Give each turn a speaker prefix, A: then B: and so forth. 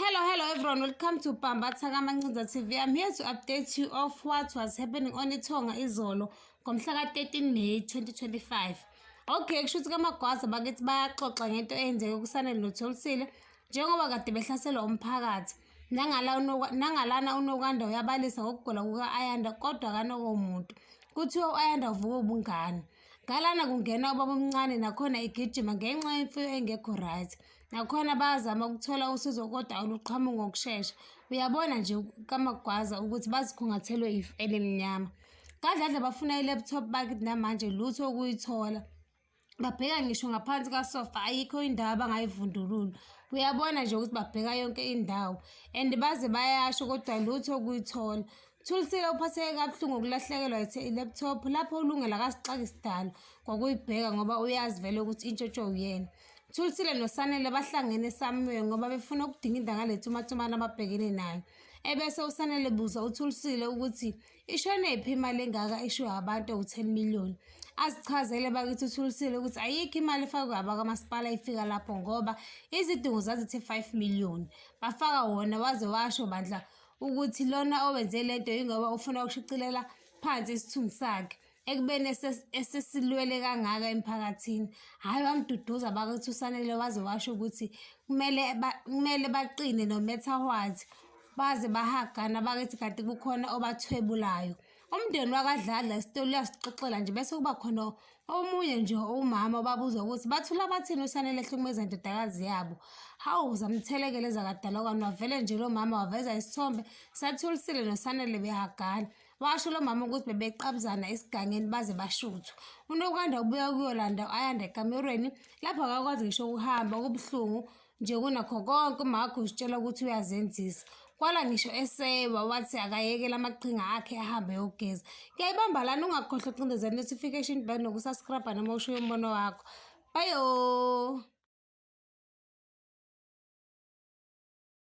A: Hello, hello everyone. Welcome to Pamba Thaka Mancinza TV. I'm here to update you of what was happening on Itonga Izolo ngomhla ka-13 May 2025. Okay, kusho ukuthi kamagwaza bakithi bayaxoxa ngento eyenzeke kusanele notholisile njengoba kade behlaselwa umphakathi. Nangalana unokwanda uyabalisa ngokugula kuka-Ayanda kodwa kanokomuntu. Kuthiwa u-Ayanda uvuka ubungane. Ngalana kungena ubaba omncane nakhona igijima ngenxa yemfuyo engekho right. nakhona bayazama ukuthola usizo kodwa oluqhamu ngokushesha uyabona nje kamagwaza ukuthi bazikhungathelwe if elimnyama kadladla bafuna i-laptop bakit namanje lutho ukuyithola babheka ngisho ngaphansi kasofa ayikho indawo abangayivundulula uyabona nje ukuthi babheka yonke indawo and baze bayasho kodwa lutho ukuyithola Thulisile uphatheke kabuhlungu ukulahlekelwa i-laptop lapho uLungela kasixaki sidalo kwakuyibheka ngoba uyazi vele ukuthi intshotsho uyena. Thulisile noSanele bahlangene eSamuel ngoba befuna ukudinginda ngale tumatumane ababhekene nayo. Ebese uSanele buza uThulisile ukuthi ishone phi imali engaka eshiwe abantu ewu-10 million. Azichazele bakithi uThulisile ukuthi ayikho imali efakwe abakamasipala ifika lapho ngoba izidingo zazithe 5 million. Bafaka wona waze washo bandla ukuthi lona owenze le nto yingoba ufuna ukushicilela phansi isithunzi sakhe ekubeni esesilwele kangaka emphakathini hhayi wamduduza bakuthi usanele waze washo ukuthi kumele kumele baqine no matter what baze bahagana bakithi kanti kukhona obathwebulayo umndeni wakadladla isitoli uyasixoxela nje bese kuba khona omunye nje umama obabuza ukuthi bathula bathini usanele ehlukumeza indodakazi yabo hawu zamthelekele zakadalokwane wavele nje lo mama waveza isithombe sathulisile nosanele behagana washo lo mama ukuthi bebeqabuzana esigangeni baze bashuthwa unokwanda ubuya kuyolanda ayanda ekamerweni lapho akakwazi ngisho ukuhamba kubuhlungu nje kunakho konke umago usitshela ukuthi uyazenzisa kwala ngisho esewa wathi akayekela amaqhinga akhe ahambe yogeza kuyayibamba lana ungakhohlwa ucindeza notification bell nokusaskrabha noma usho umbono wakho bayo